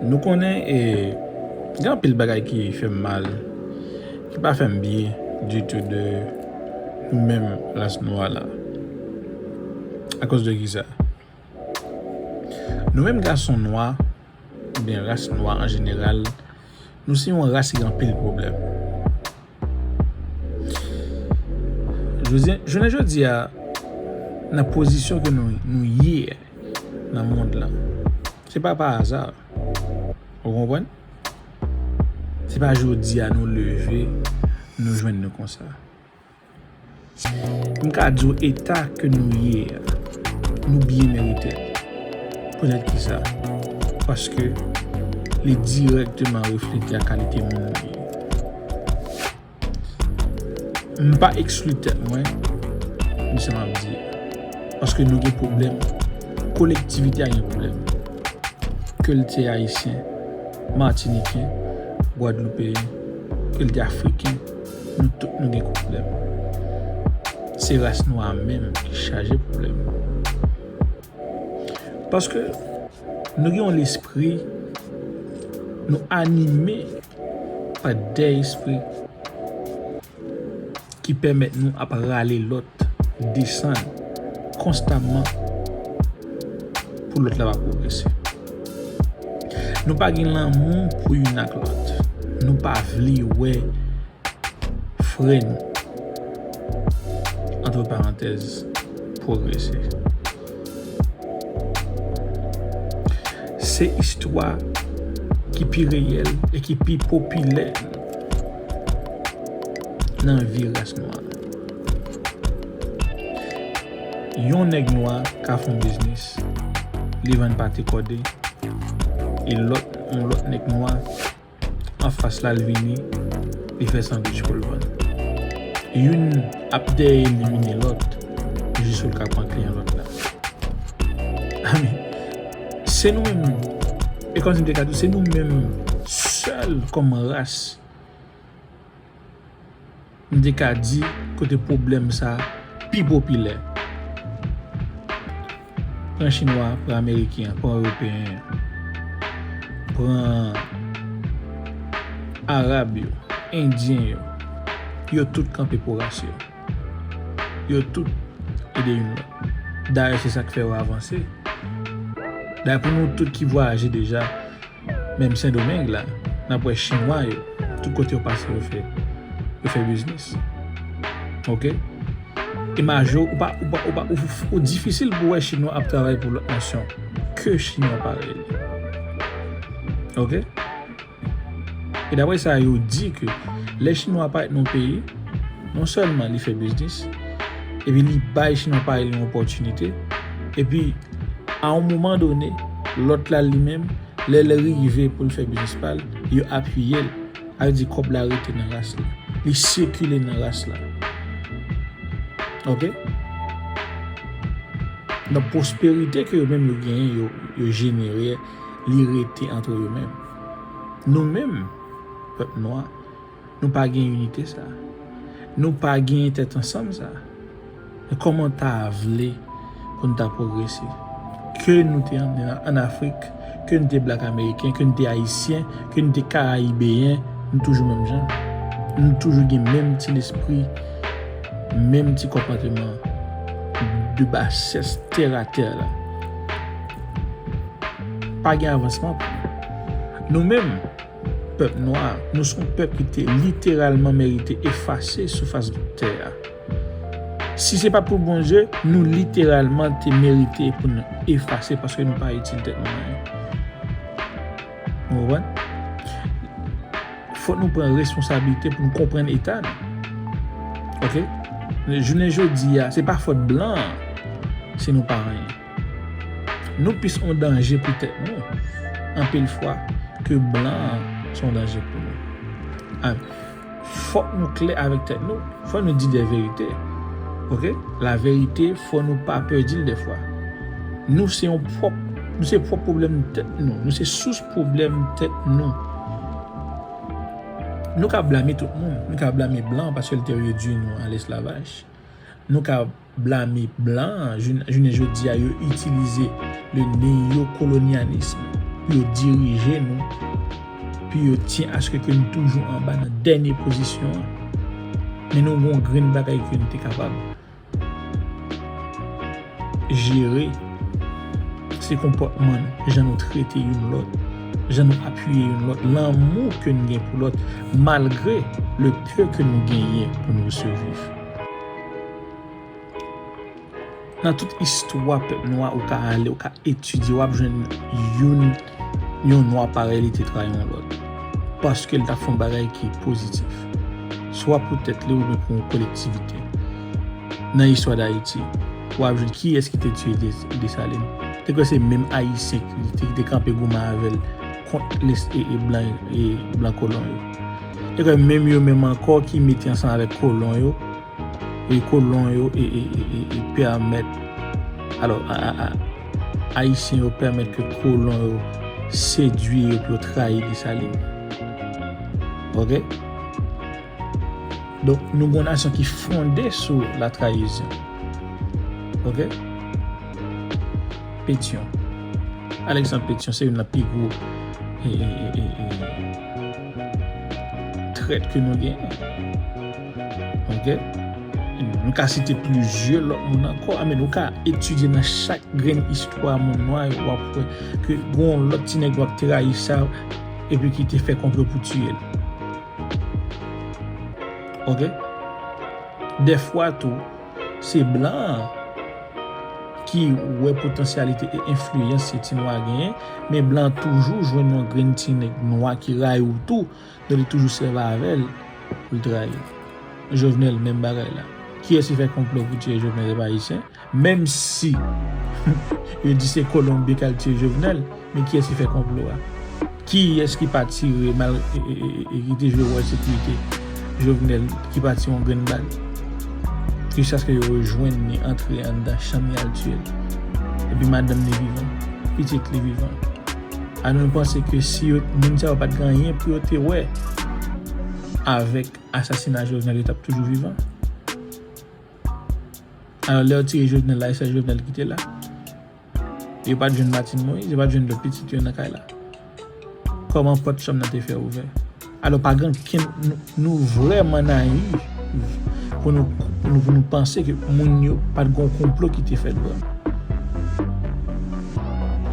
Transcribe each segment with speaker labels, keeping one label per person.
Speaker 1: Nou konnen e gen anpil bagay ki fèm mal, ki pa fèm byen ditou de nou menm ras nwa la. Akoz de kisa? Nou menm gason nwa, oubyen ras nwa an jeneral, nou se yon ras ki gen anpil pwoblèm. Jounen jodi a, nan pozisyon ke nou ye nan mond lan, se pa pa aza. Ou konpwen? Se pa jodi a nou leve, nou jwen nou konsa. M ka di w eta ke nou ye a, nou byen merite l. Poutèt ki sa? Paske li dirèkteman reflete a kalite moun nou ye. M pa ekskli tèt mwen nan sa m ap di a. Paske nou gen pwoblèm, kolektivite a gen pwoblèm. Ke l te Ayisyen, Matiniken, Gwadloupeyen, ke l te Afriken. Nou tout nou gen problem. Se ras nwa a menm ki chaje problem. Paske nou gen yon lespri, nou anime pa de espri ki pemet nou ap rale lot desann konstamman pou lot la pa pwogrese. Nou pa gen lanmou pou youn ak lòt. Nou pa vle wè frè nou, antre parantèz, pwogrese. Se istwa ki pi reyèl e ki pi popilè nan vi ras nwa. Yon nèg nwa ka fon biznis, li vann pate kòde, e lòt yon lòt nèg nwa anfas la l vini li fè sandwich pou l vann. Youn ap dèyè elimine lòt jis ou l ka pran kliyan lòt la. Ami, se nou menm, e kòmsi m te ka di w, se nou menm sèl kòm ras, M te ka di kote pwoblèm sa pi popilè. Pran chinwa an, pran ameriken an, pran ewopeyen an, pran arab yo, endyen yo, yo tout kanpe pou ras yo. Yo tout ede youn lòt. Dayè se sa k fè yo avanse. Dayè pou nou tout ki vwayaje deja. Menm sendomeng la nap wè chinwa yo tout kote yo pase yo fè yo fè biznis ok imaj yo ou pa ou pa ou pa ou difisil pou wè chinwa ap travay pou lòt nasyon ke chinwa parèy li ok e daprè sa yo di ke lè chinwa parèt nan yon peyi non sèlman li fè biznis epi li bay chinwa parèy li yon opòtinite, epi a yon moman done, lòt la li menm, lè l rive pou l fè biznis pa l, yo apiye l, a vle di kòb la rete nan ras la, li sikile nan ras la. Ok? Donk pwosperite ke yo menm yo genyen, yo jenere, li rete antre yo menm. Nou menm, pèp nwa, Nou pa gen inite sa. Nou pa gen tèt ansanm sa. Men kòman ta vle pou n ta pwogrese? Ke nou te an Afrik, ke nou te blak ameriken, ke nou te ayisyen, ke nou te karayibeyen, nou toujou menm jan. Nou toujou gen menm ti lespri, menm ti konpòteman de basès tèratè la. Pa gen avansman pou nou. Nou menm. Pèp nwa, nou s on pèp ki te literalman merite efase sou fas tè a. Si se pat pou Bondye, nou literalman te merite pou n efase paske nou pa itil tèt nou anyen. Nou konprann? Fòk nou pran responsablite pou n konprann eta nou. Ok? Jounen jodi a, se pa fòt blan an si nou pa anyen. Nou plis yon danje pou tèt nou anpil fwa ke blan an se yon danje pou nou. An, fòk nou klè avèk tèt nou, fòk nou di de verite. Ok, la verite fòk nou pa pè di l de fwa. Nou se yon pwòp, nou se pwòp pwoblèm tèt nou, nou se sous pwoblèm tèt nou. Nou ka blame tout moun, nou ka blame blan paske l te redwi nou an lesklavaj. Nou ka. blame blan an jounen jodi a yo itilize le neyokolonyanism pou yo dirije nou pou yo tyen aske ke nou toujou anba nan dènye pozisyon an men nou gon grenn bagay ke nou te kapab jere se konpòtman nou jan nou trete youn lòt jan nou apiye youn lòt lanmou ke nou gen pou lòt malgre le peu ke nou genyen pou nou siviv. Nan tout istwa pèp nwa ou ka ale, ou ka etidye, w ap jwenn youn, yon nwa parèy li te trayi yon lòt. Paske li t ap fè yon bagay ki pozitif. Swa pou tèt li oubyen pou yon kolektivite. Nan istwa Dayiti, w ap jwenn kiyès ki te tiye Desalin. Te kwè se menm Ayisyen ki te kanpe goumen avè l. kont les ee blan ee blan kolon yo. E ke menm yo menm anko ki mete ansanm avek kolon yo ee kolon yo ee ee ee permet alo aa ayisyen yo permet ke kolon yo sedwi yo pou yo trayi Dessalines. Ok. Donk nou gon nasyon ki fonde sou la trayizyon. Ok? Petyon. Alexandre Petyon se yon nan pi gwo e e e e trèt ke nou gen. Ok? Nou ka site plizye lòt moun ankò. Ame nou ka etidye nan chak grenn istwa moun nwa yo wap wè ke gon lòt ti nèg wap trayi sa epi ki te fè konplo pou tiye l. Ok dèfwa tou se blan an ki wè potansyalite e enfliyans se ti nwa genyen men blan toujou jwenn yon grenn ti nèg nwa ki rayi'w tou men li toujou sèvi avèl pou li trayi'w jovenel menm bagay la kiyès ki fè konplo pou tiye jovenel se pa ayisyen Menm si yo di se Colombie ki al tiye Jovenel, men kiyès ki fè konplo a? Kiyès ki pa tire mal e ki te jwe wòl sekirite Jovenel ki pa tire yon grenn bal? Jiskaske yo rejwenn li antre anndan chanm li al tiye l. Epi madanm li vivan, pitit li vivan. Alò nou panse ke si yo, moun sa yo pa t gen anyen pou yo te wè avèk asasina Jovenel yo t ap toujou vivan? Alò lè yo tire Jovenel la e sè Jovenel ki te la? E yo pa t jwenn Martine Moïse? Yo pa t jwenn lòt pitit yo nan kay la? Kòman pòt chanm nan te fè ouvè? Alò pa gen ankenn, nou vrèman nayiv pou nou panse ke moun yo pa t gen yon konplo ki te fèt vre.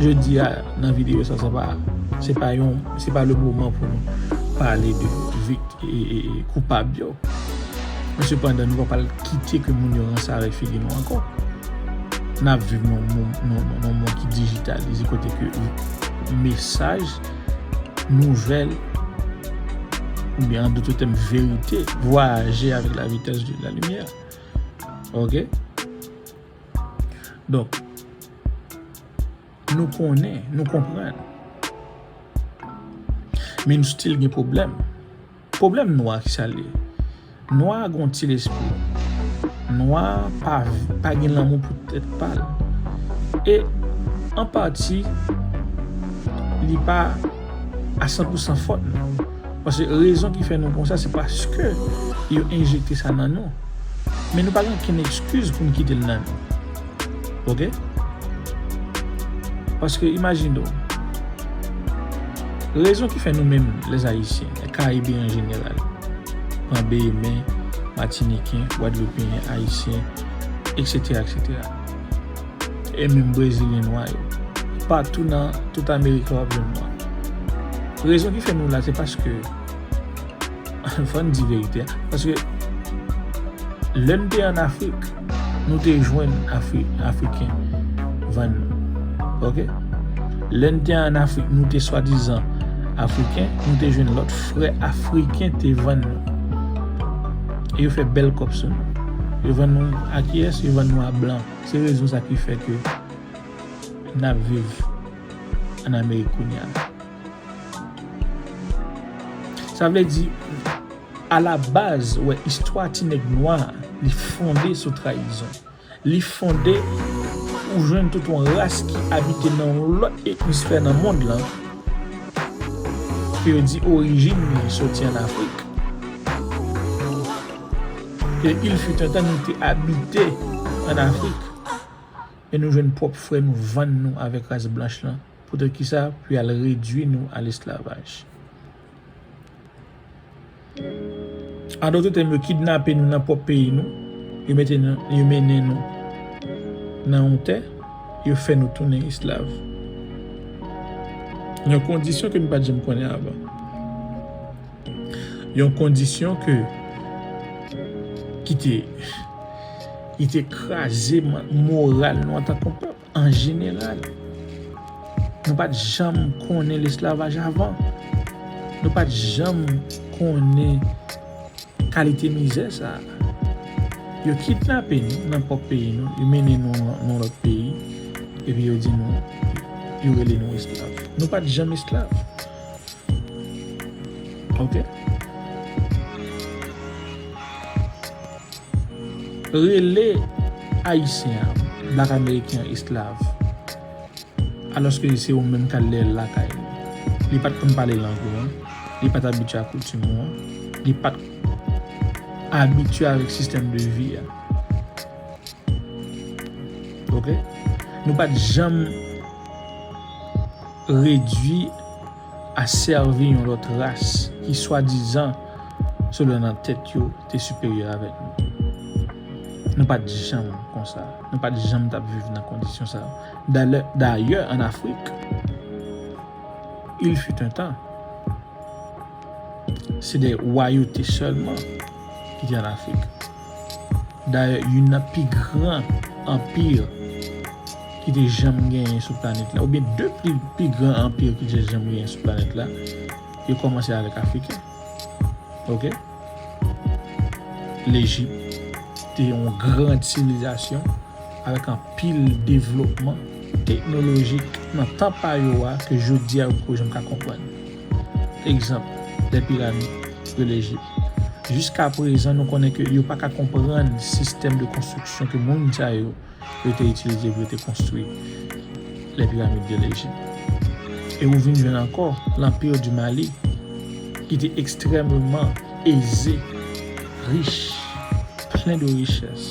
Speaker 1: Jodi a nan videyo sa, se pa yon, se pa le moman pou nou pale de koupab yo. Men sepandan nou pa pral kite ke moun yo ranse avèk figi nou ankò. N ap viv nan yon mond ki dijitalize kote ke mesaj, nouvèl oubyen an doute tèm verite vwayaje avèk la vitès de la limyè. Ok? Donk, nou konnen, nou konprann. Men nou stil gen pwoblèm. Pwoblèm nwa ki sa l ye? Nwa a gen yon ti lespri. Nwa a pa gen lanmou pou tèt pa l. E, an pati, li pa a san pou san fòt nou. Paske rezon ki fè nou konsa se paske yo enjekte sa nan nou. Men nou pa gen okenn ekskiz pou n kite l nan nou. Ok? Paske imajine w, rezon ki fè nou menm lè zayisyen, lè karibe an jeneral, an beyemè, matiniken, wadloupen, ayisyen, eksetera, eksetera, e menm brezilyen nwa yo, patou nan tout amerika wap jwenn nwa. Rezon ki fè nou la se paske, fòn di verite a, paske lè n te an afrik, Nou te jwenn Afriken vann nou. Ok. Lè n te an Afrik, nou te swadizan Afriken, nou te jwenn lòt frè Afriken te vann nou. E yo fè bèl kòb sou nou. Yo vann nou a kiyès? Yo vann nou a blan. Se rezon sa ki fè ke n ap viv an Amerik kounye a. Sa vle di. A la baz ou wè istwa ti nèg nwa a li fonde sou trayizon. Li fonde pou ou jwenn tout yon ras ki abite nan yon lòt emisfè nan mond lan ke yo di orijin li soti an Afrik. Ke il fut un temps nou te abite an Afrik e nou jwenn pwòp frè nou vann nou avèk ras blanch lan poutèt kisa pou y al redui nou a lesklavaj. An dote tèm yo kidnape nou nan pwòp peyi nou, yo mete nou, yo mennen nou nan yon tè, yo fè nou tounen esklav. Yon kondisyon ke nou pa t janm konnen avan. Yon kondisyon ke, ki te, ki te kraze moral nou antan ke yon pèp. An jeneral, nou pa t janm konnen lesklavaj avan. Nou pa t janm konnen kalite mizè sa a. Yo kidnape nou nan pwòp peyi nou, yo mennen nou nan lòt peyi, epi yo di nou, yo rele nou esklav. Nou pa t janm esklav. Ok. Rele Ayisyen an Black American esklav alòske se ou menm k al lè l lakay ou. Li pa t konn pale lang ou an, li pa t abitye ak koutim ou an, li pa t abitye avèk sistèm de vi a. Ok? Nou pa t janm redui. a sèvi yon lòt ras ki swadizan sila nan tèt yo te siperyè avèk nou. Nou pa t janm konsa. Nou pa t janm t ap viv nan kondisyon sa yo. Dalè, dayè an Afrik, il fut un temps, se de wayote sèlman ki te an Afrik. Dayè, youn nan pi gran anpir ki te janm genyen sou planèt la, oubyen de pi gran anpir ki te janm genyen sou planèt la, yo kòmanse avèk Afriken. Ok? Lejip te yon gran sivilizasyon avèk anpil devlopman teknolojik nan tan pa yo a ke jodi a yo poko janm ka konprann. Egzanp, lè piramid de Lejip. Jiska prezan nou konnen ke yo pa ka konprann sistèm de konstriksyon ke moun sa yo yo te itilize pou yo te konstri lè piramid de Lejip. E ou vin jwenn ankò L'Empire du Mali ki te ekstrèmeman eze, rich, plen de richès.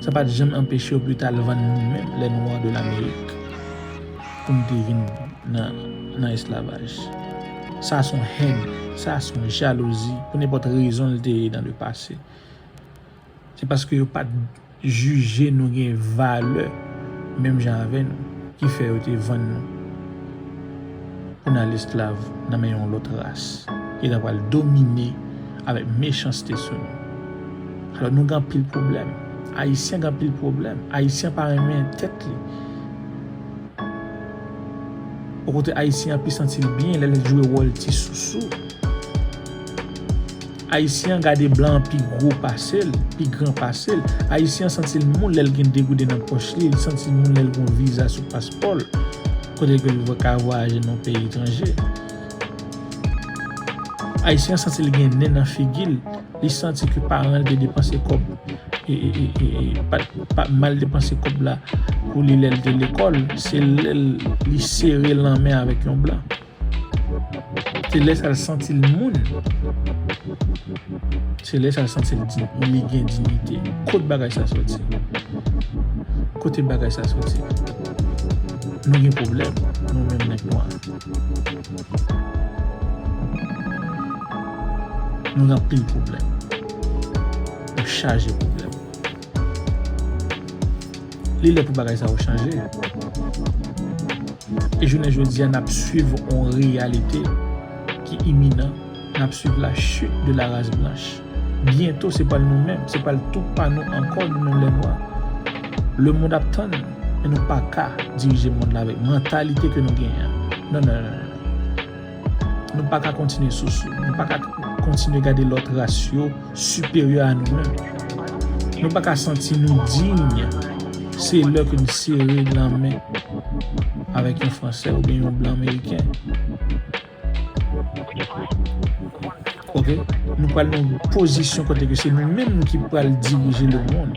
Speaker 1: Sa pa t janm anpeche yo pita l vann nou menm lè nwa de Lamerik pou n te vin nan esklavaj. Sa s on hèn, sa s on jalouzi pou nenpòt rezon l te ye nan le pase. Se paske yo pa t jije nou gen valè menm jan avè nou ki fè yo te vann nou. pou n al esklav nan men yon lòt ras ki ta pral domine avèk mechanste sou nou. Alò nou gen anpil pwoblèm. Ayisyen gen anpil pwoblèm. Ayisyen pa renmen tèt li. Bò kote Ayisyen an pi santi l byen lè l jwe wòl ti sousou. Ayisyen an gade blan an pi gwo pase l, pi gran pase l. Ayisyen an santi l moun lè l gen 2 gouden nan pòch li, li santi l moun lè l gen yon viza sou paspò l, kote ke l ka vwayaje nan yon peyi etranje. Ayisyen an santi l gen nen nan figi l, li santi ke paran l te depanse kòb, pa mal depanse kòb la pou li lè l te lekòl, se lè li sere lanmen avèk yon blan. Se lè sa l santi l moun. Se lè sa l santi l li gen diyite. Kot bagay sa soti? Kote bagay sa soti? Nou gen pwoblèm, nou menm nèg nwa. Nou gen anpil pwoblèm. Nou chaje pwoblèm. Li lè pou bagay sa yo chanje. E jounen jodi a n ap swiv yon reyalite ki iminan, n ap swiv la chit de la ras blanch. Byento se pa nou menm, se pral tou pa nou ankò nou menm lè nwa. Lemond ap tann nou, men nou pa ka dirije mond la avèk mantalite ke nou genyen an. Non non non non. Nou pa ka kontinye sousou. Nou pa ka kontinye gade lòt ras yo siperyè a nou menm. Nou pa ka santi nou diy. Se lè ke n sere lanmen avèk yon Fransè oubyen yon Blan Meriken. Ok? Nou pral nan yon pozisyon kote ke se nou menm ki pral dirije lemonn.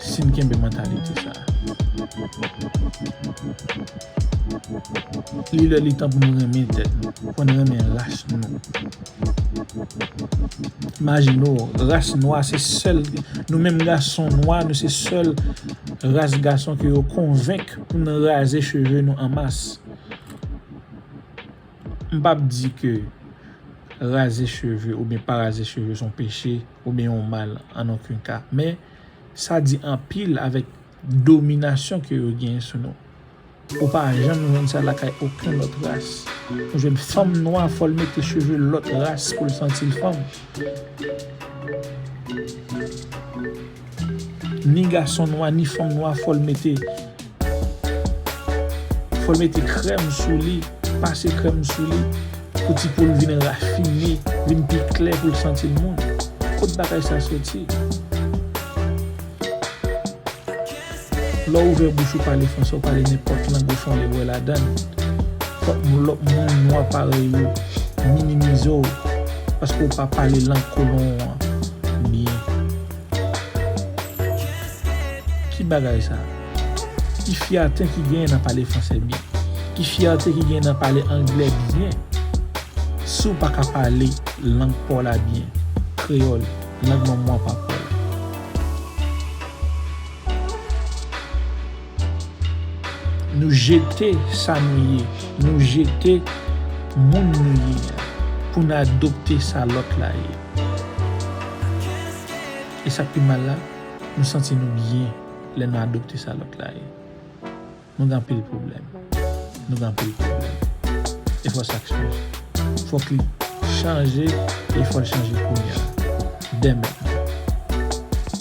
Speaker 1: Si n kenbe mantalite sa a. Li lè li tan pou nou renmen tèt nou, pou n renmen ras nou. Imajine w, ras nwa se sèl, nou menm gason nwa nou se sèl ras gason ke yo konvenk pou n raze cheve nou an mas. M p ap di ke raze cheve oubyen pa raze cheve s on peche. oubyen yon mal an oken ka, men sa di anpil avèk dominasyon ke yo genyen sou nou. Ou pa janm jwenn sa lakay oken lòt ras. Ou jwenn fanm nwa fò l mete cheve lòt ras pou l santi l fanm. Ni gason nwa ni fanm nwa fòl mete fòl mete krèm sou li pase krèm sou li pou ti poul vin rafine vin pi klè poul santil moun kot bagay sa soti lèw ouvè bouch ou pale fransè ou pale nenpòt lang ou fon ebre ladann fòk lòt moun nwa parèy ou minimizew paske ou pa pale lang kolon an byen. Ki bagay sa? Ki fyète ki genyen nan pale fransè byen? Ki fyète ki genyen nan pale angle byen? Si w pa ka pale lang pa w la byen, kreyòl, lang manman w ak papa w la. Nou jete sa nou ye, nou jete moun nou ye a pou n adopte sa lòt la ye. E sa k pi mal la, nou santi nou byen lè nou adopte sa lòt la ye. Nou gen anpil pwoblèm. Nou gen anpil pwoblèm. E fò sa chanje. Fò ki chanje e fò l chanje kounya. Dèmèt nan.